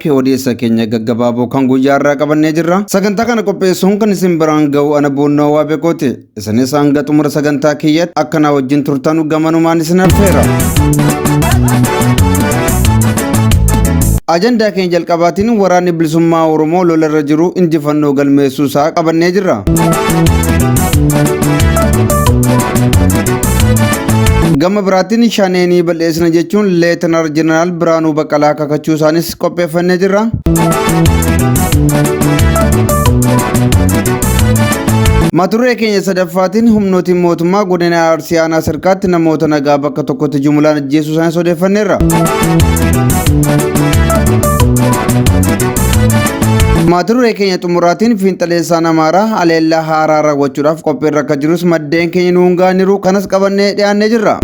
P Odeessa keenya gaggabaaboo kan guyyaa irraa qabannee jirra. Sagantaa kana qopheessuun kan isin biraan ga'u ana boonnoo waa beekooti. Isinis hanga xumura sagantaa kiyyatti akka naa wajjin turtanu gamanumaan isin affeera. Ajandaa keenya jalqabaatiin waraanni bilisummaa Oromoo lola irra jiru injifannoo galmeessuu isaa qabannee jirra. Gama biraatiin shaneenii bal'eessina jechuun leetanaal jeneraal Biraanuu Baqqalaa kakachuu isaanis qopheeffannee jirra. Maturree keenya sadaffaatiin humnootiin mootummaa godina Arsii aanaa sirkaatti namoota nagaa bakka tokkotti jumulaan ajjeesuu isaanii odeeffanneerra. Maturree keenya xumuraatiin fiinxaleessaan Amaaraa haleellaa haaraa raawwachuudhaaf qophiirra akka jirus maddeen keenya nuun gaaniiru kanas qabannee dhiyaannee jirra.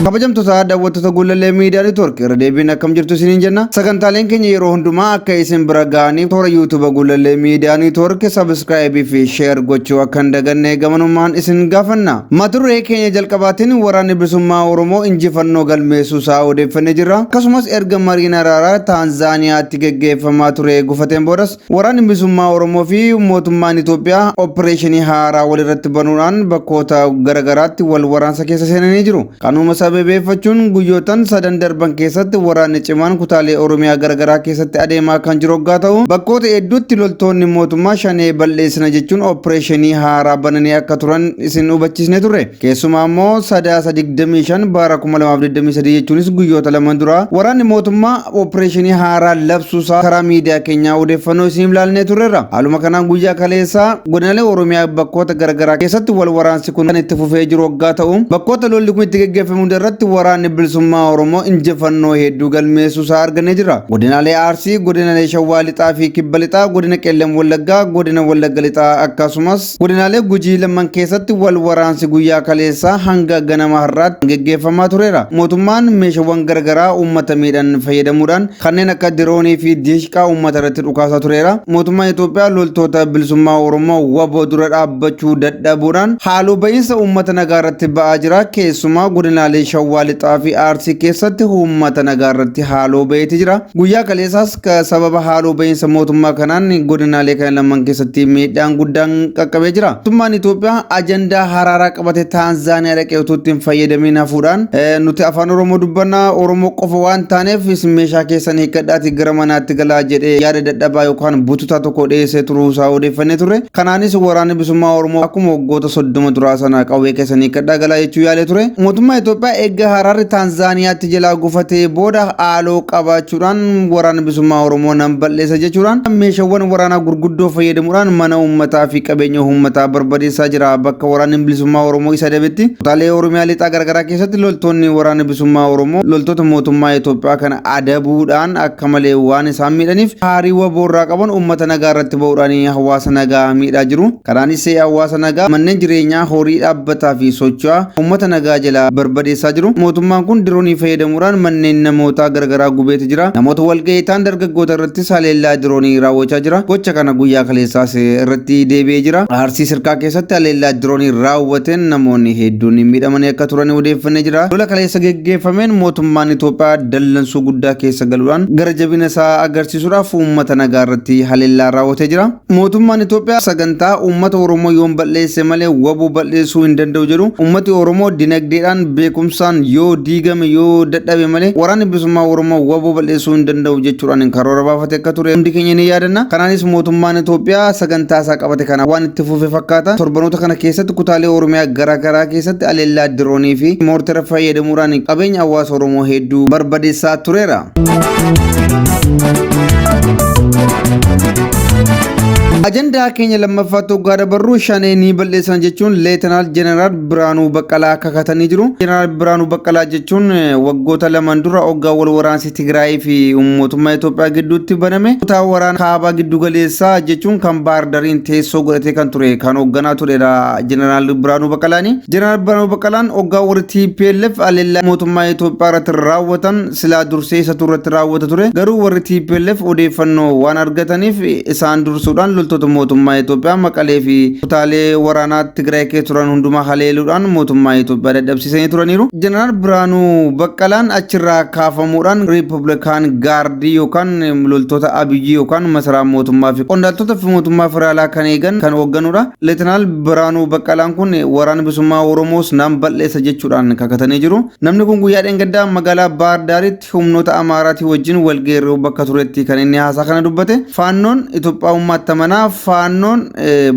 kabajamtoota daawwattoota guulallee miidiyaa network irra deebiin akkam jirtu isiniin jenna sagantaaleen keenya yeroo hundumaa akka isin bira ga'aniif toora yuutuuba guulallee miidiyaa network sabiskiraayibii fi sheer gochuu akka hin daganne gamanummaan isin gaafanna mata duree keenya jalqabaatiin waraanni bilisummaa oromoo injifannoo galmeessuu isaa odeeffannee jirra akkasumas erga mariin araaraa taanzaaniyaatti geggeeffamaa ture gufateen boodas Waraanni Bilisummaa Oromoo fi mootummaan Itoophiyaa oppireeshinii haaraa walirratti banuudhaan bakkoota gara garaatti wal waraansa keessa seenanii jiru. Kanuma sababeeffachuun guyyootan sadan darban keessatti waraanni cimaan kutaalee Oromiyaa gara garaa keessatti adeemaa kan jiru oggaa ta'u, bakkoota hedduutti loltoonni mootummaa Shanee bal'eessina jechuun oppireeshinii haaraa bananii akka turan isin hubachiisnee turre. Keessumaa immoo Sadaasa 25 bara 2023 jechuunis guyyoota lama dura waraanni mootummaa opereeshinii haaraa labsuusaa karaa miidiyaa keenyaa odeeffannoo isiniif laannee turreerra. Haaluma kanaan guyyaa kaleessaa godinaalee Oromiyaa bakkoota garaagaraa keessatti wal waraansi kun kan itti fufee jiru waggaa ta'u bakkoota lolli kun itti geggeeffame hunda irratti waraanni bilisummaa Oromoo injifannoo hedduu galmeessuusaa argannee jirra. Godinaalee Arsii, godinaalee Shawaa Lixaa fi Kibba Lixaa, godina Qellem Wallaggaa, godina Wallagga Lixaa akkasumas Godinaalee Gujii lamman keessatti wal waraansi guyyaa kaleessaa hanga ganama har'aatti geggeeffamaa tureera. Mootummaan meeshawwan garagaraa uummata miidhan fayyadamuudhaan kanneen akka diroonii fi diishqaa uummata irratti dhukaasaa tureera. Mootummaan Itoophiyaa loltoota Bilisummaa Oromoo wbo dura dhaabbachuu dadhabuudhaan haaloo ba'iinsa uummata nagaa irratti ba'aa jira. Keessumaa godinaalee Shawwaa Lixaa fi Arsii keessatti uummata nagaa irratti haaloo ba'eeti jira. Guyyaa kaleessaas Akka sababa haaloo ba'iinsa mootummaa kanaan godinaalee kana lamaan keessatti miidhaan guddaan qaqqabee jira. Mootummaan Itoophiyaa ajandaa haraaraa qabate Taanzaaniyaa dhaqee utuu ittiin fayyadamiin hafuudhaan nuti afaan Oromoo dubbanna Oromoo qofa waan taaneef isin meeshaa keessan hiikkadhaatii gara manaatti galaa jedhee yaada dadhabaa yookaan bututaa tokko dhiyeessee turuu isaa odeeffannee turre. Kanaanis waraanni bilisummaa Oromoo akkuma waggoota soddoma duraa sana qawwee keessan hiikkadhaa galaa jechuu yaalee ture. Mootummaa Itoophiyaa eegga haraarri Taanzaaniyaatti jalaa gufatee booda haaloo qabaachuudhaan waraana bilisummaa Oromoo nan bal'eessa jechuudhaan meeshaawwan waraanaa gurguddoo fayyadamuudhaan mana uummataa fi qabeenya uummataa barbadeessaa jira. Bakka waraanni bilisummaa Oromoo isa dabetti kutaalee Oromiyaa lixaa garaagaraa keessatti loltoonni waraana bilisummaa Oromoo loltoota mootummaa Itoophiyaa kana adabuudhaan akka malee waan isaan miidhaniif haarii waboo irraa qaban uummata nagaa irratti ba'uudhaan hawaasa nagaa miidhaa jiru. Kanaanis hawaasa nagaa manneen jireenyaa, horii dhaabbataa fi socho'aa ummata nagaa jalaa barbadeessaa jiru. Mootummaan kun diroonii fayyadamuudhaan manneen namootaa garagaraa gubeeti jira. Namoota walgahii ta'an dargaggoota irrattis haleellaa diroonii raawwachaa jira. Gocha kana guyyaa kaleessaas irratti deebi'ee jira. Arsii Sirkaa keessatti haleellaa diroonii raawwateen namoonni hedduun miidhamanii akka turan odeeffannee jira. Lola kaleessa geggeeffameen mootummaan Itoophiyaa dallansuu guddaa keessa galuudhaan gara jabina isaa agarsiisuudhaaf ummata nagaa irratti haleellaa raawwatee jira. Mootummaan Itoophiyaa sagantaa uummata Oromoo yoon bal'eesse malee waboo bal'eessuu hin danda'u jedhu uummati Oromoo dinagdeedhaan beekumsaan yoo diigame yoo dadhabe malee waraanni bilisummaa Oromoo waboo bal'eessuu hin danda'u jechuudhaan karoora baafate akka ture hundi keenya ni yaadanna. Kanaanis mootummaan Itoophiyaa sagantaa isaa qabate kana waan itti fufe fakkaata. Torbanoota kana keessatti kutaalee Oromiyaa gara garaa keessatti aleellaa diroonii fi moortera fayyadamuudhaan qabeenya hawaasa Oromoo hedduu barbadeessaa tureera. Ajandaa keenya lammaffaa toggaa dabarru shanee ni bal'eessan jechuun leetanaal jeneraal Biraanuu Baqqalaa kakatanii jiru. Jeneraal Biraanuu Baqqalaa jechuun eh, waggoota lamaan dura hoggaa wal waraansi Tigraayii fi mootummaa Itoophiyaa gidduutti baname kutaa waraana kaabaa giddu galeessaa jechuun kan Baahir Dariin teessoo godhatee kan ture kan hoogganaa turedha jeneraal Biraanuu Baqqalaani. Jeneraal Biraanuu Baqqalaan hoggaa warri TPLF haleellaa mootummaa Itoophiyaa irratti raawwatan silaa dursee isatu irratti raawwata ture. Garuu warri tplf odeeffannoo waan argataniif isaan dursuudhaan loltoota mootummaa Itoophiyaa Maqalee fi kutaalee waraanaa Tigraay keessa turan hundumaa haleeluudhaan mootummaa Itoophiyaa dadhabsiisanii turaniiru. Jeneraal Birhaanuu Baqqalaan achirraa kaafamuudhaan Riippablikaan Gaardii yookaan loltoota Abiyyi yookaan masaraa mootummaa fi qondaaltota fi mootummaa federaalaa kan eegan kan hoogganudha. Leetanaal Birhaanuu Baqqalaan kun waraana bilisummaa Oromoos nan bal'eessa jechuudhaan kakatanii jiru. Namni kun guyyaa dheengaddaa magaalaa Baahar Daaritti humnoota Amaaraatii wajjin walgeerruu bakka turetti kan inni haasaa kana dubbate. Faannoon Itoophiyaawummaatti amanaa. Faannoon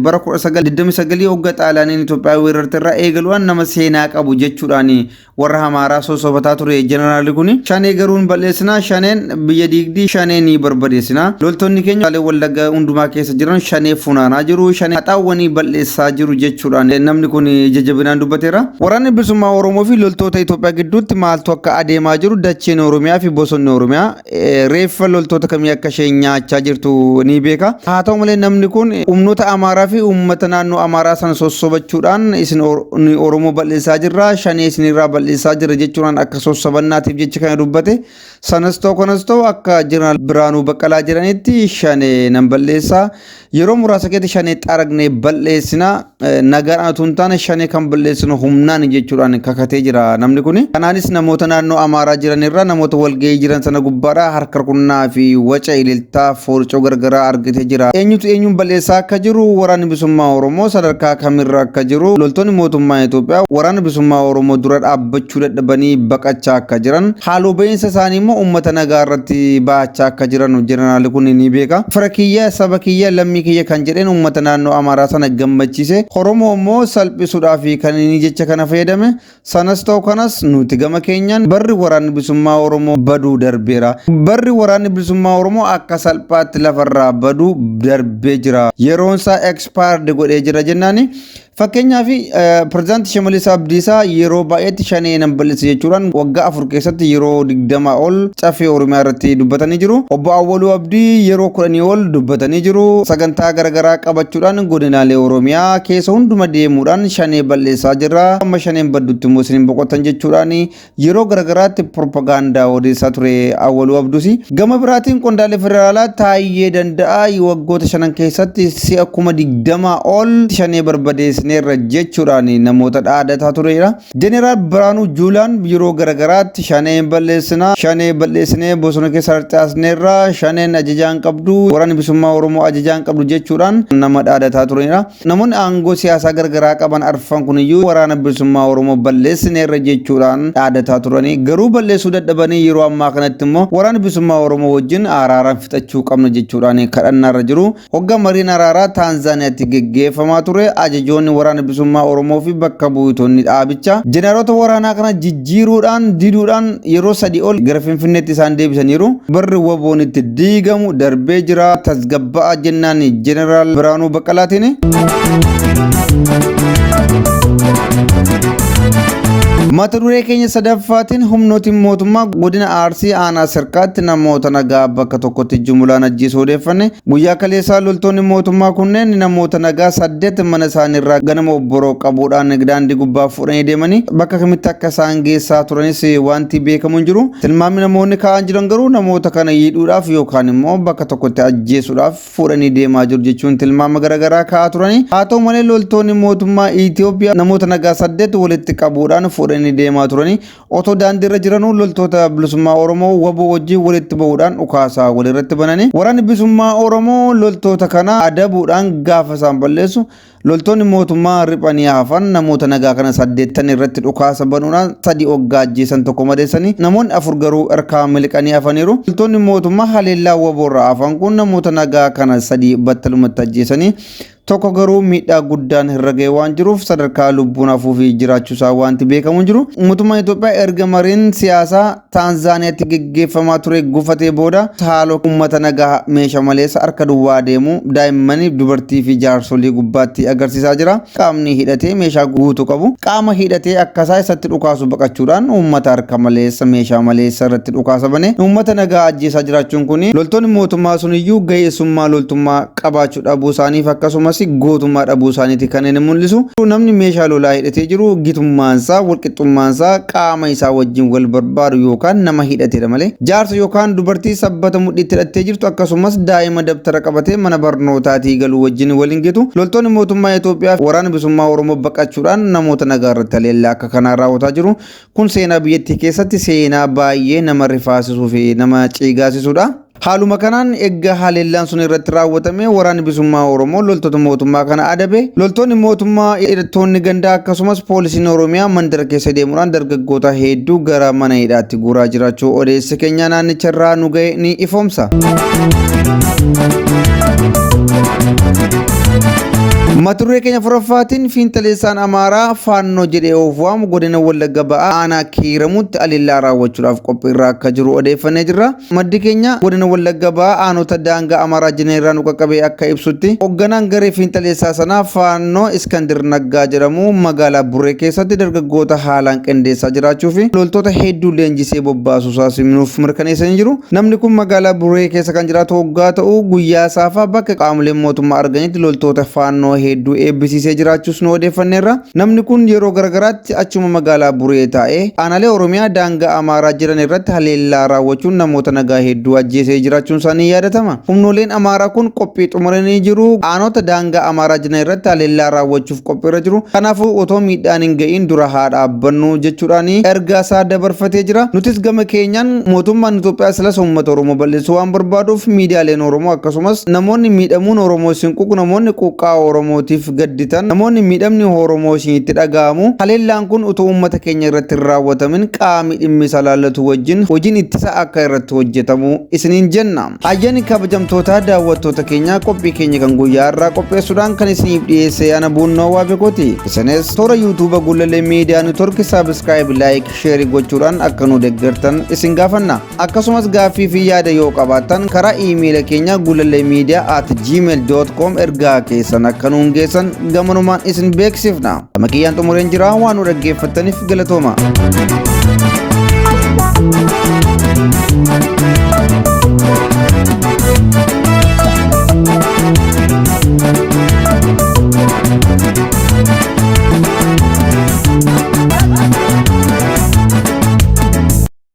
bara 1929 hogga Xaaliyaaniin Itoophiyaa weerarte irraa eegaluudhaan nama seenaa qabu jechuudhaan warra Amaaraa sossobataa ture jeneraalli kun. Shanee garuun bal'eessinaa. Shaneen biyya diigdii shanee ni barbadeessina loltoonni keenya kutaalee wallaggaa hundumaa keessa jiran shanee funaanaa jiru shanee haxaawwanii bal'eessaa jiru jechuudhaan namni kun ija jabinaan dubbateera waraanni bilisummaa oromoo fi loltoota itoophiyaa gidduutti maaltu akka adeemaa jiru dacheen oromiyaa fi bosonni oromiyaa eh, reeffa loltoota kamii akka ishee nyaachaa jirtu ni beeka haa ta'u malee namni kun humnoota amaaraa fi uummata naannoo amaaraa sana sossobachuudhaan isin Or- ni oromoo bal'eessaa jirra shanee isinirraa bal'eessaa jirra jechuudhaan akka sossobannaatiif jecha kana dubbate Sanas ta'u kanas ta'u akka Jeneraal Biraanuu Baqqalaa jedhanitti shane nan balleessa. Yeroo muraasa keessatti shane xaragnee balleessina. Nagaadhaan utuu hin taane shane kan balleessinu humnaan jechuudhaan kakatee jira namni kun. Kanaanis namoota naannoo Amaaraa jiran irraa namoota walgahii jiran sana gubbaadhaa harka rukunnaa fi waca ililtaa foorcoo gargaraa argite jira. Eenyutu eenyuun balleessaa akka jiru waraanni bilisummaa Oromoo sadarkaa kamirra akka jiru loltoonni mootummaa Itoophiyaa waraana bilisummaa Oromoo dura dhaabbachuu dadhabanii baqachaa akka jiran Haaloo ba'iinsa isaanii immoo uummata nagaa irratti ba'achaa akka jiran jeneraalli kun ni beeka. Fira kiyya, saba kiyya, lammii kiyya kan jedheen uummata naannoo Amaaraa sana gammachiise. Oromoo immoo salphisuudhaaf kan inni jecha kana fayyadame. Sanas ta'u kanas nuti gama keenyaan barri waraanni bilisummaa Oromoo baduu darbeera. Barri waraanni bilisummaa Oromoo akka salphaatti lafarraa baduu darbee jira. Yeroon isaa expired godhee jira jennaani. Fakkeenyaaf pirezidaantii Shimallis Abdiisaa yeroo baay'eetti shanee nan bal'isa jechuudhaan waggaa afur keessatti yeroo digdamaa ol caffee Oromiyaa irratti dubbatanii jiru. Obbo Awwaluu Abdii yeroo kudhanii ol dubbatanii jiru. Sagantaa garaagaraa qabachuudhaan godinaalee Oromiyaa keessa hunduma deemuudhaan shanee bal'eessaa jirra. Amma shaneen baddutti immoo isin hin boqottan jechuudhaan yeroo garagaraatti propagaandaa odeessaa ture Awwaluu Abdusi. Gama biraatiin qondaalee federaalaa Taayyee Danda'aa waggoota shanan keessatti si'a kuma digdama ol shanee barbadeessineerra jechuudhaan namoota dhaadataa tureera. Jeneraal Biraanuu Juulaan yeroo garagaraatti shanee balleessinaa, shanee balleessinee bosona keessa harcaasneerra, shaneen ajajaan qabdu, waraanni bilisummaa Oromoo ajajaan qabdu jechuudhaan nama dhaadataa tureera. Namoonni aangoo siyaasaa gargaraa qaban arfan kuniyyuu Waraana Bilisummaa Oromoo balleessineerra jechuudhaan dhaadataa turanii garuu balleessuu dadhabanii yeroo ammaa kanatti immoo Waraana Bilisummaa Oromoo wajjin aaraaraan fixachuu qabna jechuudhaan kadhannaarra jiru. Hogga mariin araaraa Taanzaaniyaatti geggeeffamaa ture ajajoonni Waraana Bilisummaa Oromoofi bakka buutoonni dhaabicha jeneraaloota waraanaa kana Jiiruudhaan diduudhaan yeroo sadii ol gara Finfinneetti isaan deebisaniiru. Barri waboon itti diigamu darbee jira tasgabba'aa jennaan Jeneraal Biraanuu Baqqalaatiin. Mata duree keenya sadaffaatiin humnootiin mootummaa godina Arsii aanaa Sirkaatti namoota nagaa bakka tokkotti jumulaan ajjeesuu odeeffanne Guyyaa kaleessaa loltoonni mootummaa kunneen namoota nagaa saddeet mana isaaniirraa ganama obboroo qabuudhaan daandii gubbaa fuudhanii deemanii bakka kamitti akka isaan geessaa turanis wanti beekamu hin jiru. Tilmaamni namoonni kaa'an jiran garuu namoota kana yiidhuudhaaf yookaan immoo bakka tokkotti ajjeesuudhaaf fuudhanii deemaa jiru jechuun tilmaama garaagaraa kaa'aa turani. Haa ta'u malee loltoonni mootummaa Itoophiyaa namoota nagaa saddeet walitti qabuudhaan fuudhanii deemaa turanii Otoo daandiirra jiranuu loltoota bilisummaa Oromoo waboo wajjin walitti bahuudhaan dhukaasaa walirratti bananii waraanni bilisummaa Oromoo loltoota kana adabuudhaan gaafa isaan balleessu loltoonni mootummaa riphanii hafan namoota nagaa kana saddeettan irratti dhukaasa banuudhaan sadii oggaa ajjeesan tokko madeessanii namoonni afur garuu harkaa miliqanii hafaniiru. Loltoonni mootummaa haleellaa waboorraa hafan kun namoota nagaa kana sadii battalumatti ajjeesanii Tokko garuu miidhaa guddaan irra ga'ee waan jiruuf sadarkaa lubbuun hafuufi jiraachuusaa waanti beekamu hin jiru. Mootummaan Itoophiyaa erga mariin siyaasaa Taanzaaniyaatti geggeeffamaa ture gufatee booda haaloo uummata nagaa meesha maleessa harka duwwaa adeemu, daa'imman, dubartiifi jaarsolii gubbaatti agarsiisaa jira. Qaamni hidhatee meeshaa guutu qabu qaama hidhatee akkasaa isatti dhukaasu baqachuudhaan uummata harka maleessa, meeshaa maleessa irratti dhukaasa banee uummata nagaa ajjeesaa jiraachuun kun loltoonni mootummaa suniyyuu ga'eessummaa loltummaa qabaachuu hidhachuu dhabuu isaaniif akkasumas gootummaa dhabuu isaaniiti kan inni mul'isu. Namni meeshaa lolaa hidhatee jiru gitummaan isaa, walqixxummaan isaa qaama isaa wajjin wal barbaadu yookaan nama hidhatedha malee jaarsa yookaan dubartii sabbata mudhiitti hidhattee jirtu akkasumas daa'ima dabtara qabatee mana barnootaatii galu wajjin wal hin gitu. Loltoonni mootummaa Itoophiyaa fi waraana bilisummaa Oromoo baqachuudhaan namoota nagaa irratti haleellaa akka kanaa raawwataa jiru. Kun seenaa biyyattii keessatti seenaa baay'ee nama rifaasisuu fi nama ciigaasisudha. Haaluma kanaan erga haleellaan sun irratti raawwatame waraanni bisummaa Oromoo loltoota mootummaa kana adabe. Loltoonni mootummaa hidhattoonni gandaa akkasumas poolisiin Oromiyaa mandara keessa deemuudhaan dargaggoota hedduu gara mana hidhaatti guuraa jiraachuu odeessi keenya naannicha irraa nu ga'e ni ifoomsa. Maturree keenya furaffaatiin fiinxaleessaan Amaaraa faannoo jedhee of waamu godina Wallagga ba'aa aanaa kiiramutti alillaa raawwachuudhaaf qophiirraa akka jiru odeeffannee jirra. Maddi keenya godina Wallagga Bahaa aanota daangaa Amaaraa jinan irraa nu qaqqabe akka ibsutti, hogganaan garee fiinxaleessaa sanaa Faannoo Iskandir Naggaa jedhamu magaalaa Burree keessatti dargaggoota haalaan qindeessaa jiraachuu fi loltoota hedduu leenjisee bobbaasuusaas nuuf mirkaneessanii jiru. Namni kun magaalaa Burree keessa kan jiraatu hoggaa ta'u, guyyaa saafaa bakka qaamoleen mootummaa arganitti loltoota Faannoo hedduu eebbisiisee jiraachuus nu odeeffanneerra. Namni kun yeroo garagaraatti achuma magaalaa Buree taa'ee aanaalee Oromiyaa daangaa Amaaraa jiran irratti haleellaa raawwachuun namoota nagaa hedduu ajjeesee jiraachuun isaa ni yaadatama. Humnooleen Amaaraa kun qophii xumuranii jiru. Aanoota daangaa Amaaraa jiran irratti haleellaa raawwachuuf qophiirra jiru. Kanaafuu otoo miidhaan hin ga'iin dura haa dhaabbannu jechuudhaan ergaa isaa dabarfatee jira. Nutis gama keenyaan mootummaan Itoophiyaa silas uummata Oromoo bal'isuu waan barbaaduuf miidiyaaleen Oromoo akkasumas namoonni miidhamuun Oromoo isin quuqu namoonni quuqqaa Oromootiif gadditan namoonni miidhamni Oromoo isinitti dhaga'amu haleellaan kun utuu uummata keenya irratti hin raawwatamin qaami dhimmi isa laallatu wajjin hojiin ittisa akka irratti hojjetamu isiniin jenna. Hayyani kabajamtootaa daawwattoota keenyaa qophii keenya kan guyyaa irraa qopheessuudhaan kan isiniif dhiyeesse ana buunnoo waafekooti. Isinis toora yuutuuba Gullallee Miidiyaa Network saabskraayib, laayik, sheerii gochuudhaan akka nu deeggartan isin gaafanna. Akkasumas gaaffii fi yaada yoo qabaattan karaa iimeela keenya gulalee miidiyaa at gmail.com ergaa keessan akka nuun geessan gamanumaan isin beeksifna. Gama kiyyaan xumureen jira waan nu dhaggeeffattaniif galatooma.